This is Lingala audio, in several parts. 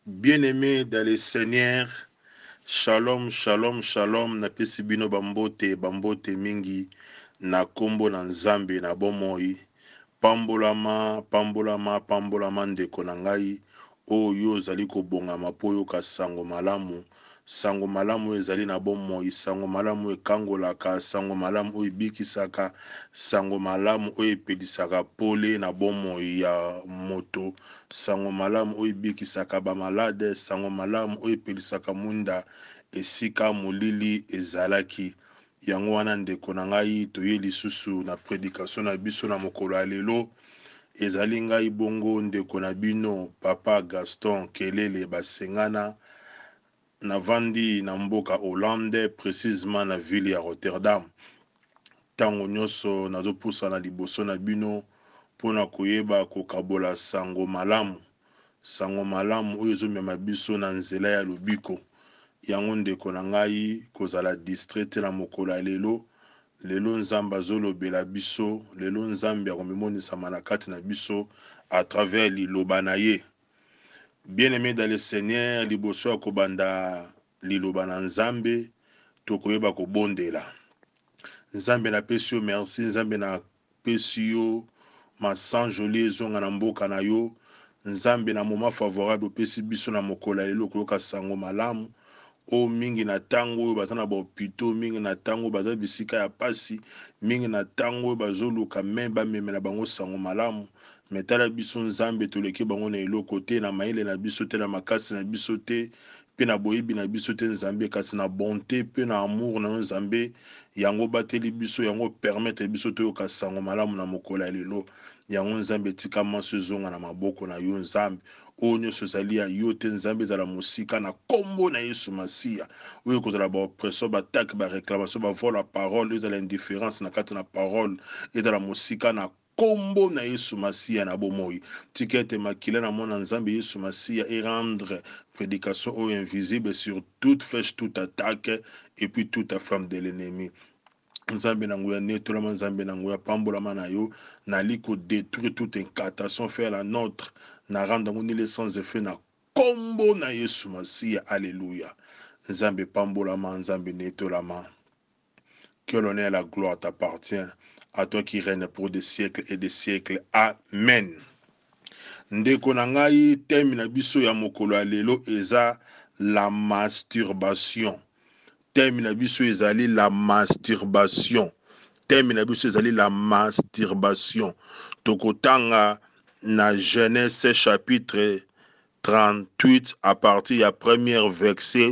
Bien-aimé dans le Seigneur, shalom, shalom, shalom, na pesi bino bambote, bambote mingi, na kombo na Nzambe na bomoi, Pambolama, pambolama, pambolama ndeko na ngai, oh yo ozali kobongama mpo oyoka sango malamu, sango malamu oyo ezali na bomoi, sango malamu oyo ekangolaka, sango malamu oyo ebikisaka, sango malamu oyo epelisaka pole na bomoi ya moto, sango malamu oyo ebikisaka ba malade, sango malamu oyo epelisaka mwinda esika molili ezalaki. Yango wana, ndeko na ngai, toyei lisusu na predikasio na biso na mokolo ya lelo. Ezali ngai bongo ndeko na bino, Papa Gaston Kelele Basengana. Navandi na mboka Hollande, precisement na ville ya Rotterdam. Tango nyonso nazopusana liboso na bino mpo na koyeba kokabola sango malamu. Sango malamu oyo ezomema biso na nzela ya lobiko. Yango ndeko na ngai kozala distrait te na mokolo ya lelo. Lelo Nzambe azolobela biso, lelo Nzambe akomimonisama na kati na biso à travers liloba na ye. Bien aime dans le Seigneur, liboso ya kobanda liloba na Nzambe, tokoyeba kobondela. Nzambe napesi yo merci, Nzambe na pesi yo ma sang jolie ezonga na mboka na yo nzambe na moment favorable opesi biso na mokolo ya lelo koyoka sango malamu oyo mingi na tango oyo baza na ba hopitaux mingi na tango oyo baza bisika ya pasi mingi na tango oyo bazoluka main bamemela bango sango malamu mais tala biso nzambe toleki bango na eloko te na mayele na biso te na makasi na biso te Mpe na boyebi na biso te, Nzambe, kasi na bonte mpe na amour na yo, Nzambe, yango obateli biso, yango o permettre biso toyoka sango malamu na mokolo ya lelo. Yango, Nzambe, tika manso ezonga na maboko na yo, Nzambe. Oyo nionso ezali ya yo te, Nzambe, ezala mosika na kombo na Yesu Masiya. Oyo ekozala ba oppression, ba attaque, ba reclamation, ba vol ya parole, ezala indifference na kati na parole, ezala mosika na Kombo na yesu masiya na bomoyi tika ete makila na mwana nzambe yesu masiya e rendre predication oyo invisible sur toute flèche toute attaque et puis toute a flamme de l'ennemi nzambe na nguya netolama nzambe na nguya pambolama na yo nali ko detruire toute incantation fait à la notre na rendre yango nile sans effet na kombo na yesu masiya alleluia nzambe pambolama nzambe netolama que l'honneur et la gloire t'appartient à toi qui règne pour des siècles et des siècles amen ndeko na ngai teme na biso ya mokolo ya lelo eza la masturbation teme na biso ezali la masturbation teme na biso ezali la masturbation tokotanga na genèse chapitre 38 à partir ya première verset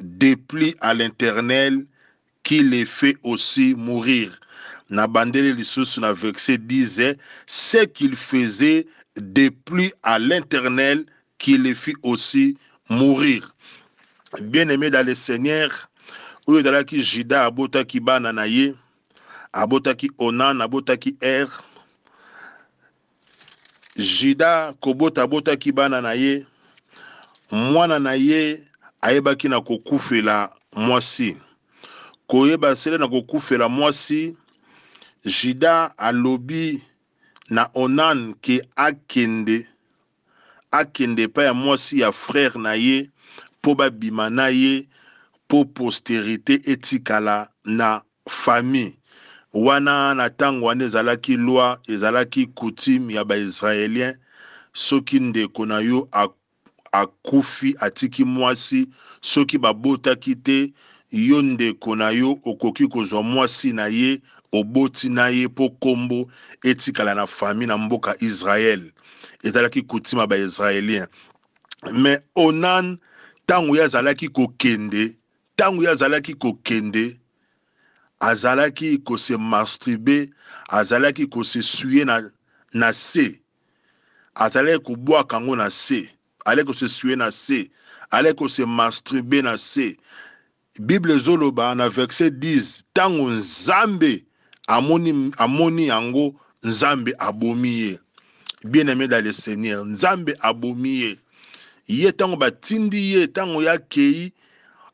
Depli a l'internel qui le fait aussi mourir na bandeli lisusu na verse dise ce qu'il faisait depli a l'internel qui le fit aussi mourir bien aime dans le seigneur oyo ezalaki juda abotaki bana na ye abotaki onan abotaki er Juda kobota abotaki bana na ye, mwana na ye ayebaki na kokufela mwasi. Koyeba sele na kokufela mwasi, Juda alobi na Onan ke akende akende epai ya mwasi ya frère na ye po ba bima na ye po posterite etikala na famille wana na tango wana ezalaki loi ezalaki coutume ya ba israeliens soki ndeko na yo akufi atiki mwasi soki ba botaki te yo ndeko na yo okoki kozua mwasi na ye oboti na ye po kombo etikala na famille na mboka israel. ezalaki coutume ya baisraélien mais onan ntango ye azalaki kokende ntango ye azalaki kokende azalaki kose mastrube azalaki kose suye na, na se azalaki kobwaka yango na se alaki kose suye na se alaki kose mastrube na se Bible ezo loba na verset 10 tango nzambe amoni amoni yango nzambe abomi ye bien aime dans le seigneur nzambe abomi ye ye tango ba tindi ye tango ya kei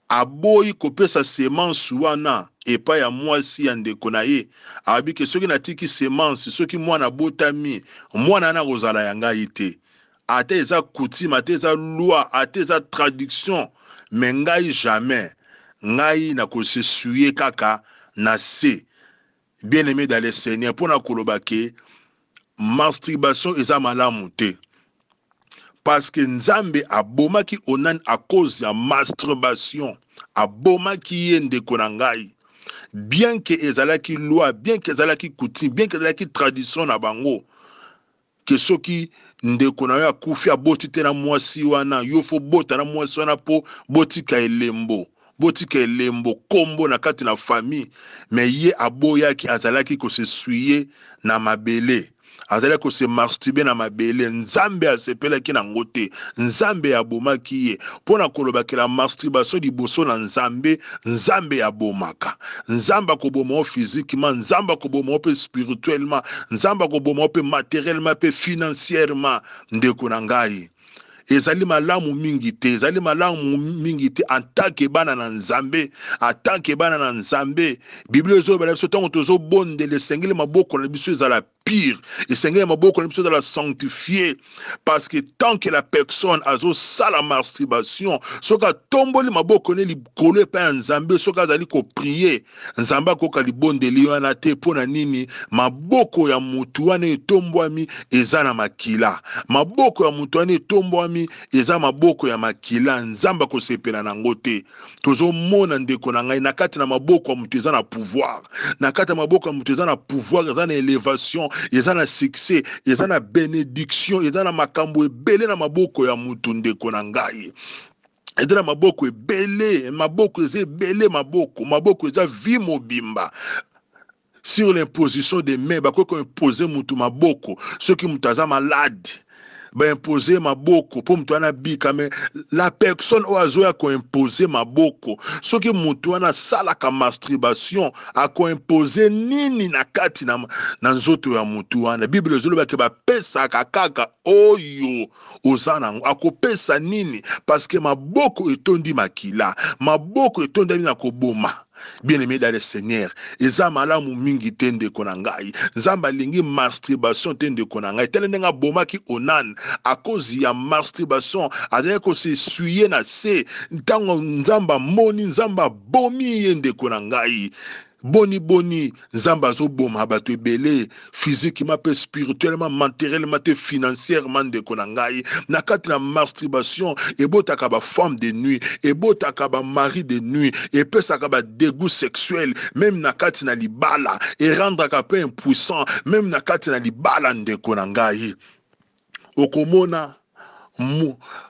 aboyi kopesa semence wana epa ya mwasi ya ndeko na ye abike soki na tiki semence soki mwana abotami mwana wana akozala ya ngai te ata eza coutume ata eza loi ata eza traduction mais ngai jamais ngai na ko se souiller kaka na se bien aime dans le seigneur mpo na koloba ke masturbation eza malamu te parce que nzambe abomaki onan à cause ya masturbation abomaki ye ndeko na ngai bien que ezalaki loi bien que ezalaki coutume bien que ezalaki tradition na bango que soki ndeko na yo akufi aboti te na mwasi wana yo faut obota na mwasi wana po botika elembo botika elembo kombo na kati na famille mais ye aboyaki azalaki ko se suye na mabele azalaki ko se marstube na mabele nzambe asepelaki na ngo te nzambe abomaki ye pona koloba que la masturbation liboso na nzambe Nzambe abomaka. Nzambe akoboma yo physiquement, Nzambe akoboma yo pe spirituellement, Nzambe akoboma yo pe materiellement pe financièrement ndeko na ngai. Ezali malamu mingi te, ezali malamu mingi te en tant que bana na Nzambe, en tant que bana na Nzambe. Biblia ezoloba na biso tango tozobondela esengeli maboko na biso ezala pire esengeli ya maboko na biso ezala sanctifie parce que tant que la personne azosala masturbation soki atomboli maboko ne likolo epai ya nzambe soki azali koprie nzambe akoyoka libondeli wana te mpo na nini maboko ya motu wana etombwami eza na makila maboko ya motu wana etombwami eza maboko ya makila nzambe akosepela na yango te tozomona ndeko na ngai na kati na maboko ya moto eza na pouvoir na kati ya maboko ya moto eza na pouvoir eza na elevation eza na succès eza na benediction eza na makambo ebele na maboko ya moto ndeko na ngai eza na maboko ebele maboko eza ebele maboko maboko eza vie mobimba Sur l'imposition des mains, bakoki ko imposer mutu maboko soki mutu aza malade ba imposer maboko mpo moto wana abika me la personne oyo azoya koimpose maboko soki moto wana asalaka masturbation akoimpose nini na kati na, na nzoto ya moto wana biblia ezolobaki bapesaka kaka oyo oza nango akopesa nini parce que maboko etondi makila maboko etondami na koboma bien aime dans le seigneur eza malamu mingi te ndeko na ngai nzambe alingi masturbation te ndeko na ngai tala ndenge abomaki onan akozi ya masturbation azalaki kosesuye na se ntango nzambe amoni nzambe abomi ye ndeko na ngai Boni boni nzambe azo boma batu ebele physiquement pe spirituellement menterellement te financierement ndeko na ngai na kati na masturbation ebotaka ba femme de nuit ebotaka ba mari de nuit epesaka ba degout sexuel meme na kati na libala erendraka pe impuissant meme na kati na libala ndeko na ngai okomona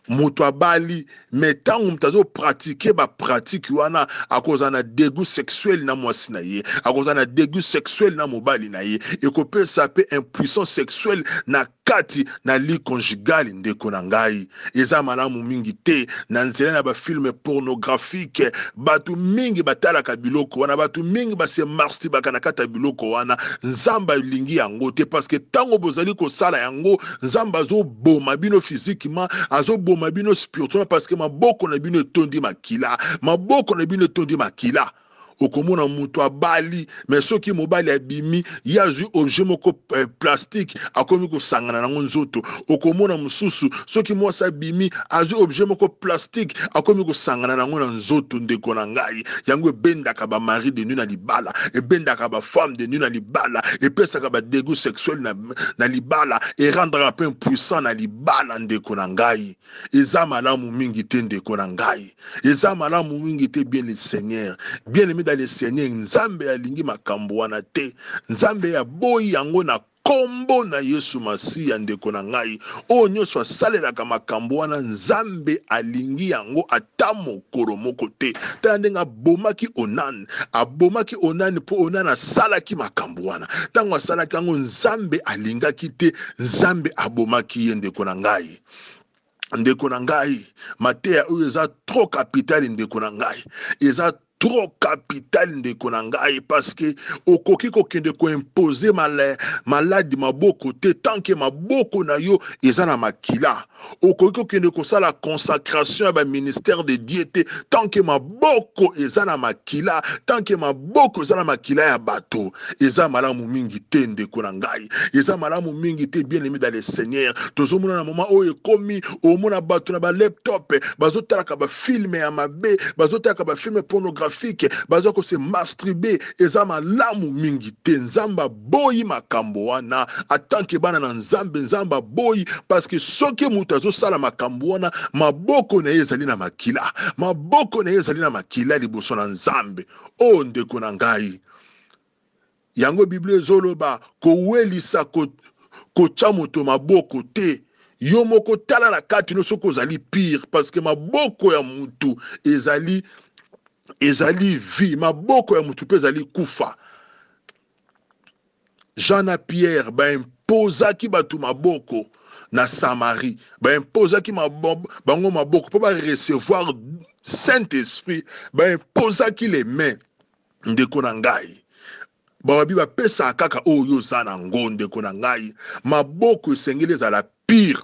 moto abali me ntango moto azo pratike bapratike wana akozala na degu sexuel na mwasi na ye akozala na degu sexuel na mobali na ye ekopesa mpe impuissance sexuelle na kati na li conjugale ndeko na ngai eza malamu mingi te na nzela na bafilme pornographique Batu mingi batalaka biloko wana batu mingi ba se marstibaka na kati ya biloko wana nzambe alingi yango te paske tango bozali kosala yango nzambe azoboma bino physiquement azoboma bino spirituellement paske maboko na bino etondi makila maboko na bino etondi makila okomona mutu abali mais soki mobali abimi ye azwi objet moko eh, plastique akomi kosangana nango nzoto okomona mosusu soki mwasi abimi azwi objet moko plastique akomi kosangana nango na nzoto ndeko na ngai yango ebendaka ba mari de nuit na libala ebendaka ba femme de nuit na libala epesaka ba degout sexuel na, na libala erendraka mpe impuissant na libala ndeko na ngai Eza malamu mingi te ndeko na ngai, eza malamu mingi te bien le Seigneur, bien aimé dans le Seigneur. Nzambe alingi makambo wana te, Nzambe aboyi yango na kombo na Yesu Masiya. Ndeko na ngai, oyo nyonso asalelaka makambo wana, Nzambe alingi yango ata mokolo moko te. Tala ndenge abomaki Onan, abomaki Onan mpo Onan asalaki makambo wana. Ntango asalaki yango, Nzambe alingaki te, Nzambe abomaki ye, ndeko na ngai. ndeko na ngai mateya oyo eza trop capital ndeko na ngai eza trop capital ndeko na ngai parceke okoki kokende koimpose maladi maboko te tanke maboko na yo eza na makila okoki kokende kosala consacration ya baministère de dieu te tanke maboko eza na makila tant que maboko eza na makila ya bato eza malamu mingi te ndeko na ngai eza malamu mingi te bien aimé dans le seigneur tozomona na moment oyo ekomi omona bato na ba laptop bazotalaka ba filme ya mabe bazotalaka ba filme pornographique baza kose masturbe eza malamu mingi te nzambe boyi makambo wana atanke bana na nzambe nzambe aboyi paske soki moto azosala makambo wana maboko na ye ezali na makila maboko na ye ezali na makila liboso na nzambe o oh, ndeko na ngai yango biblia ezoloba kowelisa kotya moto maboko te yo moko tala na kati no soki ozali pire paske maboko ya motu ezali ezali vie maboko ya motu mpe ezali kufa Jean na Pierre ba imposaki bato maboko na Samarie, ba imposaki bango maboko mpo ba recevoir Saint-Esprit, ba imposaki les mains. Ndeko na ngai, babi bapesaka kaka oyo oza na ngo. Ndeko na ngai, maboko esengeli ezala pire.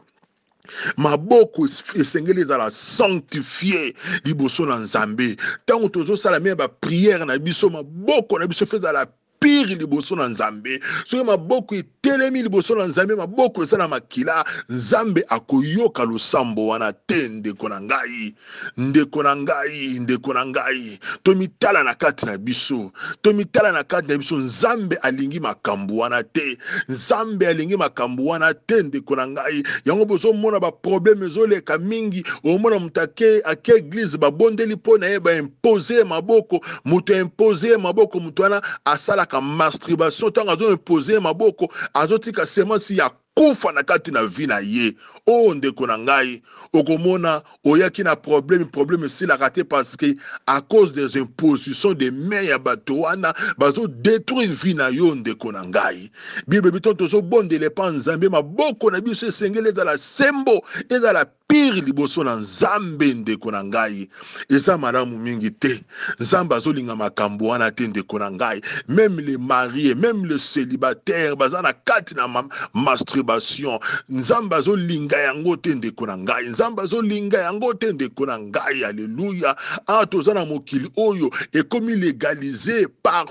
maboko esengeli ezala sanctifie liboso na nzambe ntango tozosala meme bapriere na biso maboko na biso fe ezala pire liboso na nzambe soki maboko etelemi liboso na nzambe maboko eza na makila nzambe akoyoka losambo wana te ndeko na ngai ndeko na ngai ndeko na ngai tomitala na kati na biso tomitala na kati na biso nzambe alingi makambo wana te nzambe alingi makambo wana te ndeko na ngai yango bozomona baprobleme ezoleka mingi omona moto ake ake eglize babondeli mpo na ye baimpose ye maboko moto aimpose ye maboko moto wana asalaka masturbation ntango azoimpose ye maboko azotika semasi ya kufa na kati na vie na ye oh ndeko na ngai okomona oyaki na problème problème esilaka te parce que à cause des impositions des mains ya bato wana bazo detruire vie na yo ndeko na ngai bible biton tozobondela epa nzambe maboko na biso esengeli ezala sembo ezala pire liboso na nzambe ndeko na ngai eza malamu mingi te nzambe azolinga makambo wana te ndeko na ngai meme le marie meme le célibataire baza na kati na ma masturbation nzambe azolinga yango te ndeko na ngai nzambe azolinga yango te ndeko na ngai aleluya a ah, toza na mokili oyo ekomi legalize par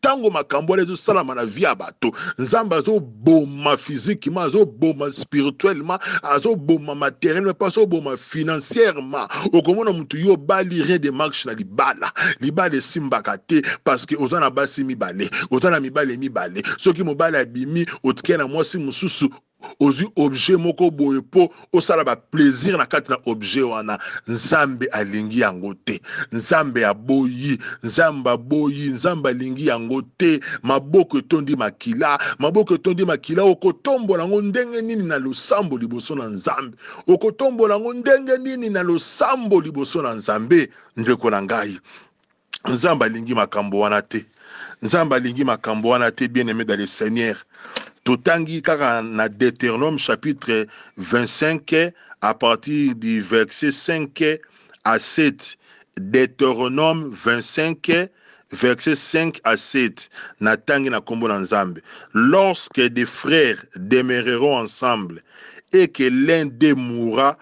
tango makambo wana ezosalama na vie ya bato nzambe azoboma physiquement azoboma spirituellement azoboma materiellement mpe azoboma financièrement okomona motu yo obali rien de marche na libala libala esimbaka te parce que oza na basi mibale oza na mibale mibale soki mobali abimi otikia na mwasi mosusu Ozui objet moko boye po osala ba plaisir na kati na objet wana. Nzambe alingi yango te. Nzambe aboyi. Nzambe aboyi. Nzambe alingi yango te. Maboko etondi makila. Maboko etondi makila okotombola yango ndenge nini na losambo liboso na Nzambe? Okotombola yango ndenge nini na losambo liboso na Nzambe, ndeko na ngai? Nzambe alingi makambo wana te. Nzambe alingi makambo wana te, bien aimé dans le Seigneur. Totangi kaka na Deuteronome chapitre 25 à partir du verset 5 à 7. Deuteronome 25 verset 5 à 7 na tangi na kombo na Nzambe. Lorsque des frères demeureront ensemble et que l'un d'eux mourra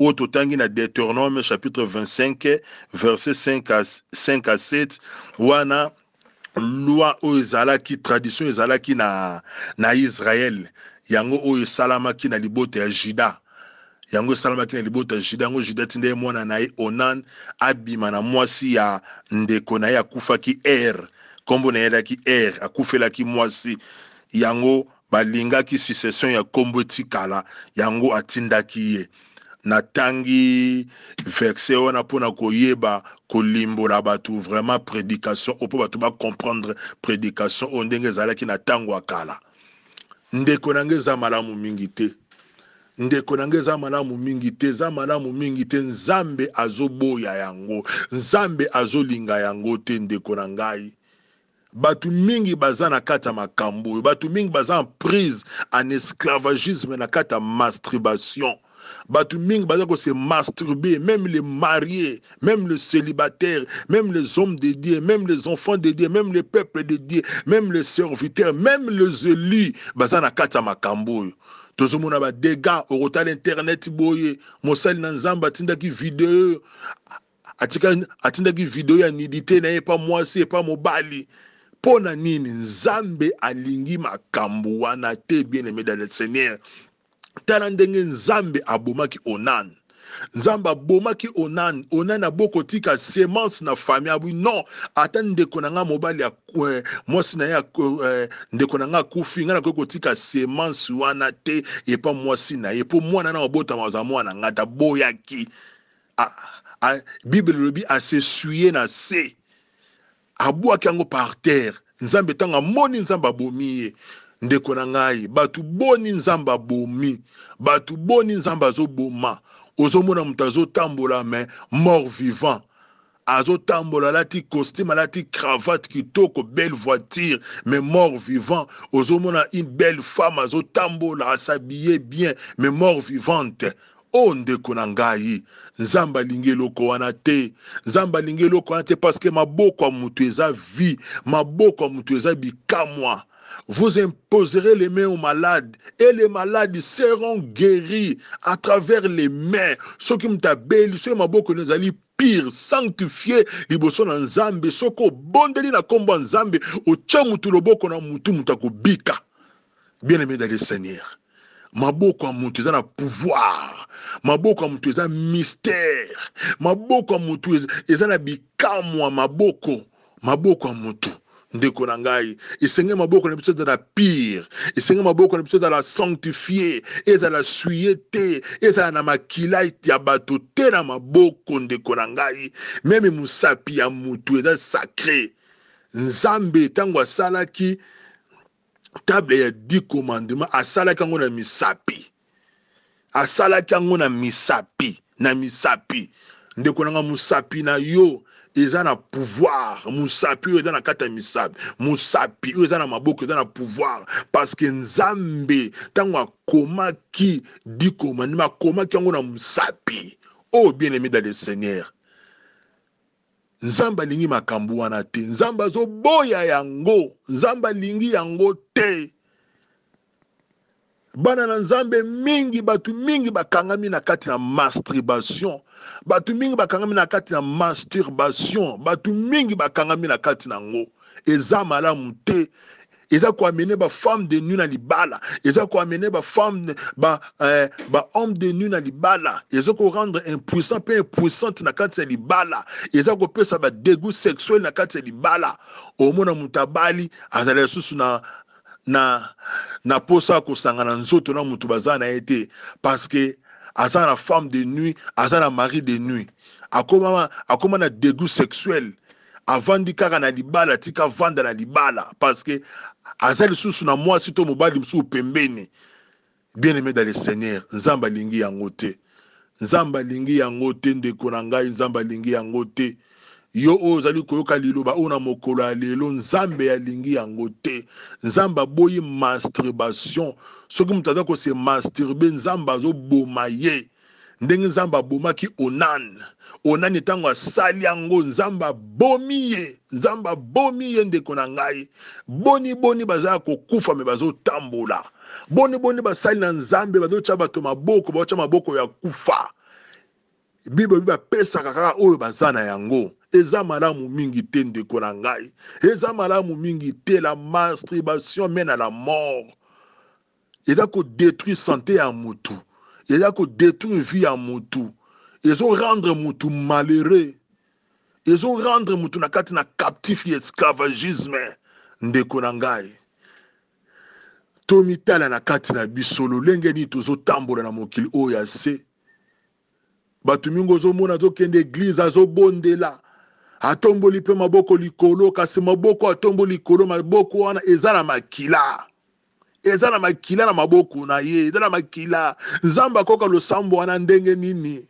oyo totangi na Deuteronome chapitre 25 verset 5 à, 5 à 7 wana loi oyo ezalaki tradition ezalaki na, na Israël yango oyo esalamaki na libota ya Juda yango esalamaki na libota ya Juda yango Juda tinda ye mwana na ye Onan abima na mwasi ya ndeko na ye akufaki Er nkombo na ye alaki Er akufelaki mwasi yango Balingaki succession ya kombo etikala yango atindaki ye. Natangi verset wana pona koyeba kolimbola batu vraiment predication oyo po batu ba comprendre predication oyo ndenge ezalaki na tango ya kala. Ndeko na nga eza malamu mingi te. Ndeko na nga eza malamu mingi te, eza malamu mingi te. Nzambe azoboya yango. Nzambe azolinga yango te ndeko na ngai. Batu mingi baza na kati ya makambu oyo. Batu mingi baza en prise en esclavagisme na kati ya mastribation. Batu mingi baza ko se masturber, meme les maries, meme les celibataires, meme les hommes de Dieu, meme les enfants de Dieu, meme les peuples de Dieu, meme les serviteurs, meme les elus baza na kati ya makambu oyo. Tozo mona ba degats, okotala internet boye, mosali na Nzambe atindaki video, atika atindaki video ya nudite na ye epa mwasi epa mobali mpo na nini nzambe alingi makambo wana te bien aime dans le seigneur tala ndenge nzambe abomaki onan nzambe abomaki onan onan abokotika semence na famille abi non ata ndeko na ngai mobali ya eh, mwasi na ye eh, ndeko na ngai akufi ngai nakoki kotika semence wana te epa mwasi na ye mpo mwana na obotama aza mwana ngai taboyaki a, a, bible elobi asesuye na se abwaki yango par terre nzambe ntango amoni nzambe abomi ye ndeko na ngai bato boni nzambe abomi bato boni nzambe azoboma ozomona moto azotambola me mort vivant azotambola alati costume alati cravate kitoko belle voiture mais mort vivant ozomona une belle femme azotambola asabille bien mais mort vivante o oh, ndeko na ngai nzambe alingi eloko wana te nzambe alingi eloko wana te parceke maboko ya moto eza vie maboko ya moto eza bikamwa vous imposerez les mains aux malades et les malades seront guéris à travers les mains soki moto abeli soki maboko ezali pire sanctifie liboso na nzambe soki obondeli na kombo ya nzambe otie mutu loboko na mutu mutu akobika bien aime dale seigneur maboko ya mutu eza na pouvoir maboko ya mutu eza mystère maboko ya mutu eza na bikamwa maboko maboko ya motu ndeko na ngai esenge maboko na biso ezala pire esenge maboko na biso ezala sanctifie ezala suye te ezala na makila ya bato te na maboko ndeko na ngai meme mosapi ya motu eza sacre nzambe ntango asalaki table ya dix commandement asalaki yango na misapi asalaki yango na misapi na misapi ndeko nanga mosapi na yo eza na pouvoir mosapi oyo eza na kati ya misapi mosapi oyo eza na maboko eza na pouvoir parce que nzambe ntango akomaki dikomandima akomaki yango na mosapi oh bien aimé dans le seigneur Nzambe alingi makambo wana te. Nzambe azoboya yango. Nzambe alingi yango te. Bana na Nzambe mingi, bato mingi bakangami na kati na masturbation. Bato mingi bakangami na kati na masturbation. Bato mingi bakangami na kati na yango. Eza malamu te. eza ko amener ba femme de nuit na libala eza ko amener ba femme ba eh, ba homme de nuit na libala eza ko rendre impuissant pe impuissante na kati ya libala eza ko pesa ba dégoût sexuel na kati ya libala omona moto abali azala lisusu na na na posa ya kosangana nzoto na moto baza na ye te parce que aza na femme de nuit aza na mari de nuit akoma akoma na dégoût sexuel avandi kaka na libala tika avanda na libala parce que aza lisusu na mwasi to mobali mosusu pembeni bien aimé dans le seigneur nzambe alingi yango te nzambe alingi yango te ndeko na ngai nzambe alingi yango te yo oyo ozali koyoka liloba oyo na mokolo ya lelo nzambe alingi yango te nzambe aboyi masturbation soki moto aza kose masturbe nzambe azoboma ye Ndenge Nzambe abomaki Onan, Onani tango asali yango, Nzambe abomi ye, Nzambe abomi ye ndeko na ngai. Boni boni baza ya kokufa me bazotambola, boni boni basali na Nzambe bazotia bato maboko, baotia maboko ya kufa. Bible elobi bapesaka kaka oyo baza na yango. Eza malamu mingi te ndeko na ngai, eza malamu mingi te la masturbation mène à la mort. eza ko detruire sante ya mutu, eza ko detruire vie ya mutu, ezo rendre mutu malheureux, ezo rendre mutu na kati na captif ya esclavagisme. Ndeko na ngai, tomitala na kati na biso lolenge nini tozotambola na mokili oyo ya se bato mingi ozomona azokende eglize azobondela atomboli mpe maboko likolo kasi maboko atomboli likolo maboko wana eza na makila eza na makila na maboko na ye eza na makila nzambe akoka losambo wana ndenge nini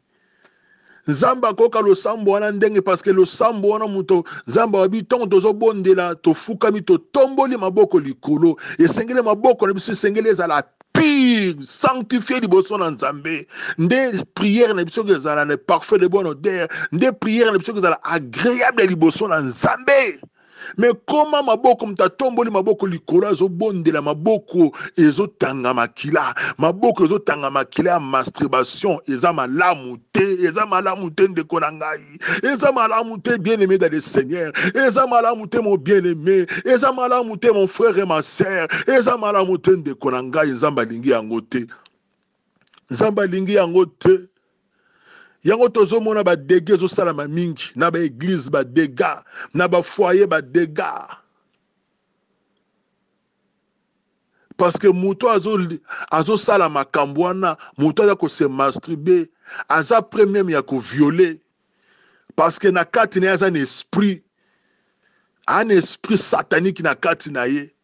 nzambe akoka losambo wana ndenge parceke losambo wana moto nzambe ayebi ntango tozobondela tofukami totomboli maboko likolo esengeli maboko na biso esengeli ezala pire sanctifie liboso na nzambe nde priere na biso ezala na parfait de bonne odeur nde priere na biso ezala agreable liboso na nzambe me koma maboko moto atomboli maboko likolo azobondela maboko ezotanga makila maboko ezotanga makila ya masturbation eza malamu te eza malamu te ndeko na ngai eza malamu te bien aimé dans le seigneur eza malamu te mon bien aimé eza malamu te mon frère et ma sœur eza malamu te ndeko na ngai nzambe alingi yango te nzambe alingi yango te yango tozomona badega ezosalama mingi na baeglize badega na bafoye badega parce que moto azosala makambo wana moto aza kose masturbe aza pre meme ya koviole parce que na kati na ye aza na esprit aa na esprit satanique na kati na ye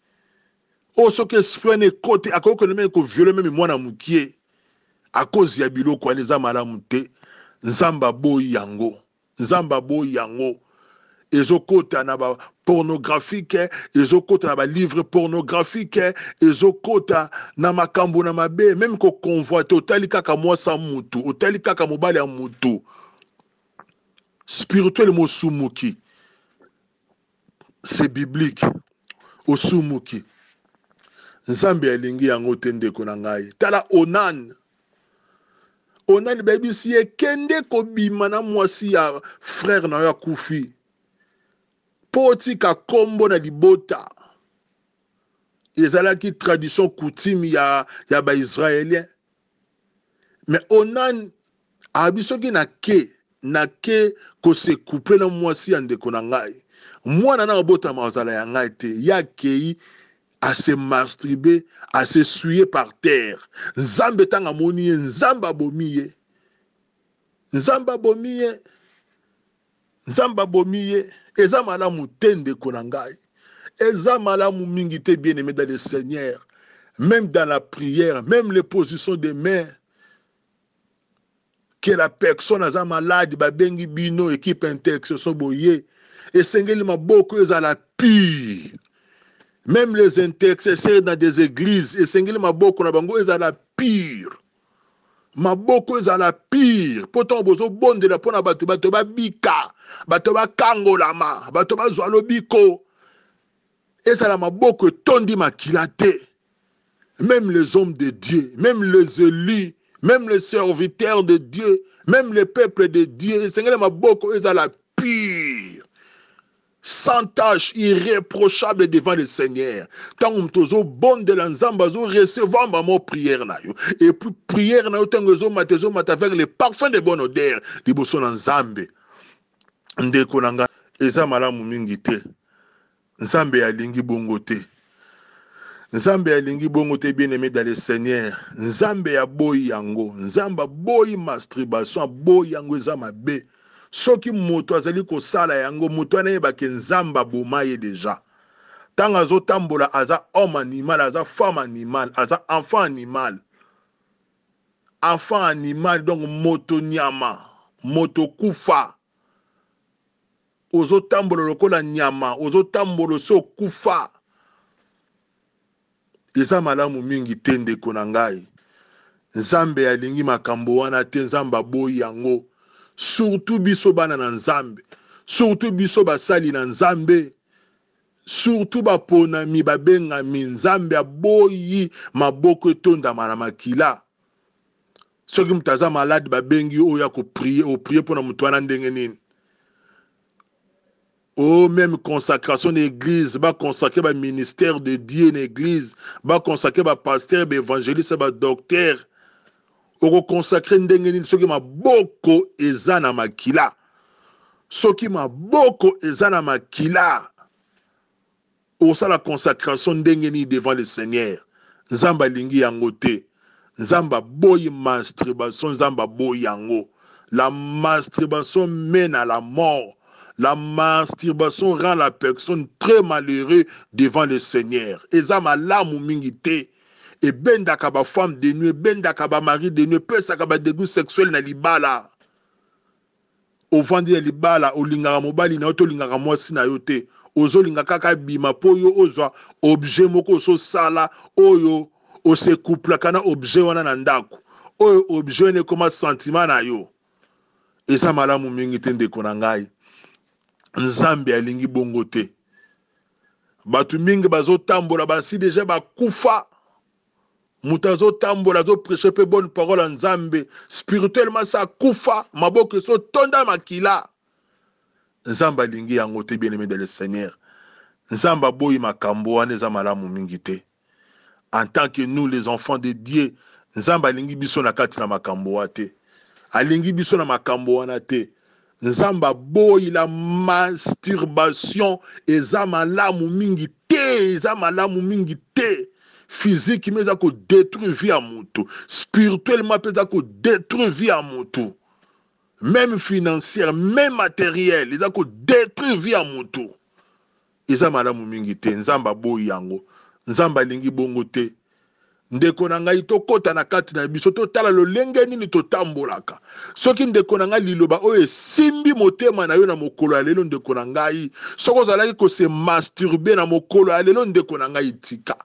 oyo soki esprit wana ekoti akoki kende meme ko viole meme mwana mukie a cause ya biloko wana eza malamu te nzambe aboyi yango nzambe aboyi yango ezokota na ba pornographique ezokota na ba livre pornographique ezokota na makambo na mabe meme ko convoite otali kaka mwasi ya mutu otali kaka mobali ya mutu spirituel mosumuki c'est biblique osumuki nzambe alingi yango te ndeko na ngai tala onan onan bayebisi ye kende kobima na mwasi ya frere na yo akufi mpo otika nkombo na libota ezalaki tradition coutume ya, ya baisraélien me onan abi soki na ke na ke kose couple na mwasi ya ndeko na ngai mwana na obotama azala ya ngai te ya kei à se masturber, à se souiller par terre. Nzambe tanga moni ye, Nzambe abomi ye. Nzambe abomi ye. Nzambe abomi ye eza malamu te ndeko na ngai eza malamu mingi te bien aime dans le seigneur même dans la prière même les positions de main que la personne aza malade babengi bino equipe intercession boye esengeli maboko ezala pire même les intercesseurs dans des églises esengeli maboko na bango ezala pire Maboko ezala pire mpo ntango bozobondela mpo na bato, bato babika, bato bakangolama, bato bazwa lobiko, ezala maboko etondi makila te. Meme les hommes de Dieu, meme les élus, meme les serviteurs de Dieu, meme les peuples de Dieu, esengeli maboko ezala pire. sans tache irreprochable devant le seigneur ntango moto ozobondela nzambe azo recevoir mamo prière na yo epuis prière na yo ntango ezomata ezomata avec le parfum de bonne odeur liboso na nzambe ndeko na ngai eza malamu mingi te nzambe alingi bongo te Nzambe alingi bongo te bien aimé dans le Seigneur. Nzambe ya boyi yango. Nzambe boyi masturbation, boyi yango eza mabe. Soki moto azali kosala yango, moto wana yeba ke Nzambe aboma ye deja. Tango azo tambola aza homme animal, aza femme animal, aza enfant animal. Enfant animal donc moto nyama, moto kufa. ozo tambola lokola nyama ozo tambola osi okufa eza malamu mingi te ndeko na ngai nzambe alingi makambo wana te nzambe aboyi yango surtout biso bana na nzambe surtout biso basali na nzambe surtout baponami babengami nzambe aboyi maboko etondama na makila Soki moto aza malade ba bengi yo oya ko prier, o prier pona moto wana ndenge nini? Oh, meme consacration na eglise, ba consacrer ba ministère de Dieu na eglise, ba consacrer ba pasteur, ba evangeliste, ba docteur. Oko consacrer ndenge nini soki maboko eza na makila? Soki maboko eza na makila, Osala consacration ndenge nini devant le seigneur? Nzambe alingi yango te. Nzambe aboyi mastribation nzambe aboyi yango. La mastribation mene à la mort. La mastribation rend la personne très malheureux devant le seigneur. Eza malamu mingi te. Ebendaka ba femmes de nuit, ebendaka ba maris de nuit, epesaka ba degout sexuel na libala. ovandi na libala olingaka mobali nayo te olingaka mwasi nayo te ozolinga kaka abima po yo ozwa objet moko ososala oyo ose couplaka na objet wana na ndaku oyo objet wana ekoma sentiment nayo eza malamu mingi te ndeko na ngai nzambe alingi bongo te bato mingi bazotambola basi deja bakufa moto azotambola azopreche mpe bonne parole ya nzambe spirituellement sa kufa maboko esotonda makila nzambe alingi yango te bien aime de le seigneur nzambe aboyi makambo wana eza malamu mingi te en tant que nous les enfants de dieu nzambe alingi biso na kati na makambo wa te alingi biso na makambo wana te Nzambe aboyi la masturbation eza malamu mingi te eza malamu mingi te physique mais eza ko detruire vie ya mutu spirituellement pe eza ko detruire vie ya mutu meme financière meme materiel eza ko detruire vie ya mutu Eza malamu mingi te nzambe aboyi yango nzambe alingi bongo te ndeko na ngai tokota na kati na biso totala lolenge nini totambolaka soki ndeko na ngai liloba oyo esimbi motema na yo na mokolo ya lelo ndeko na ngai soki ozalaki kose masturbe na mokolo ya lelo ndeko na ngai tika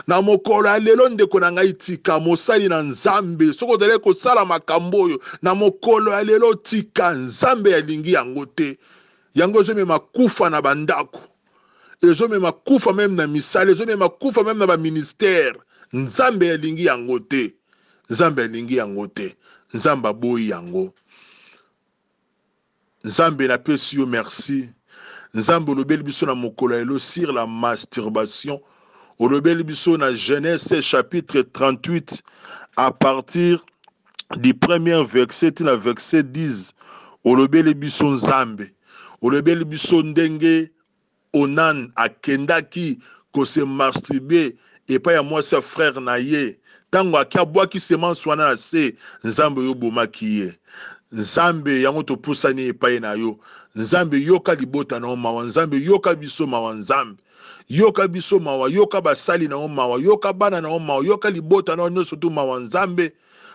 na mokolo ya lelo ndeko na ngai tika mosali na nzambe soki ozalaki kosala makambo oyo na mokolo ya lelo tika nzambe alingi yango te yango ezomema kufa na bandako ezomema kufa meme na misala ezomema kufa meme na baministère nzambe alingi yango te nzambe alingi yango te nzambe aboyi yango nzambe napesi yo merci nzambe olobeli biso na mokolo ya lelo sur la masturbation olobeli biso na genese chapitre 38 à partir du premier verset ti na verset 10 olobeli biso Nzambe, olobeli biso ndenge Onan akendaki ko se masturber epai ya mwasi ya frère na ye, tango ake abwaki semence wana na se, Nzambe yo obomaki ye. Nzambe yango topusani epai na yo, Nzambe yoka libota na yo mawa, Nzambe yoka biso mawa Nzambe. Yoka biso mawa, yoka basali na yo mawa, yoka bana na yo mawa, yoka libota na yo nionso tout mawa Nzambe,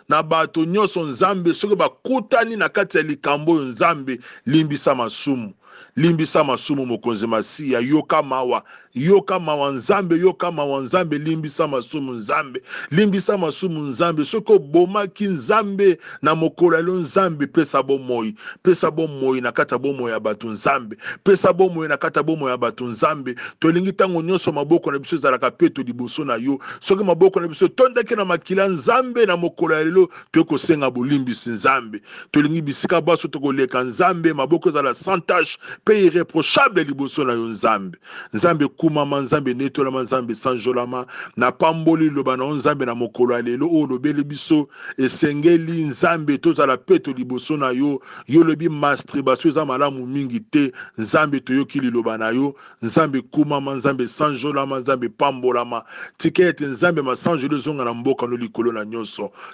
na bato nionso Nzambe soki bakutani na kati ya likambo oyo Nzambe limbisa masumu, limbisa masumu mokonzi masiya yoka mawa, yoka mawa Nzambe, yoka mawa Nzambe, limbisa masumu Nzambe, limbisa masumu Nzambe, soki obomaki Nzambe, na mokolo ya lelo nzambe pesa bomoi pesa bomoi na kati ya bomoi ya bato nzambe pesa bomoi na kati ya bomoi ya bato nzambe tolingi ntango nyonso maboko na biso ezalaka peto liboso na yo soki maboko na biso etondaki na makila nzambe na mokolo ya lelo toyei kosenga bolimbisi nzambe tolingi bisika baso tokoleka nzambe maboko ezala sans tache mpe irreprochable liboso na yo nzambe Nzambe kumama, Nzambe netolama, Nzambe sanjolama, na pamboli liloba na yo Nzambe na mokolo ya lelo oyo olobeli biso esengeli Nzambe tozala peto liboso na yo, yo olobi mastribasio eza malamu mingi te, Nzambe toyoki liloba na yo, Nzambe kumama, Nzambe sanjolama, Nzambe pambolama, tika ete Nzambe masanjoli ezonga na mboka no likolo na nyoso,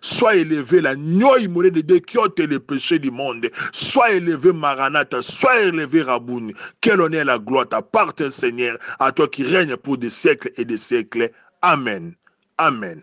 Sois eleve la nyoi mole de Dieu qui ôte les péchés du monde. Sois eleve Maranatha, sois eleve Rabuni. Que l'honneur et la gloire t'appartent Seigneur, à toi qui règne pour des siècles et des siècles. Amen. Amen.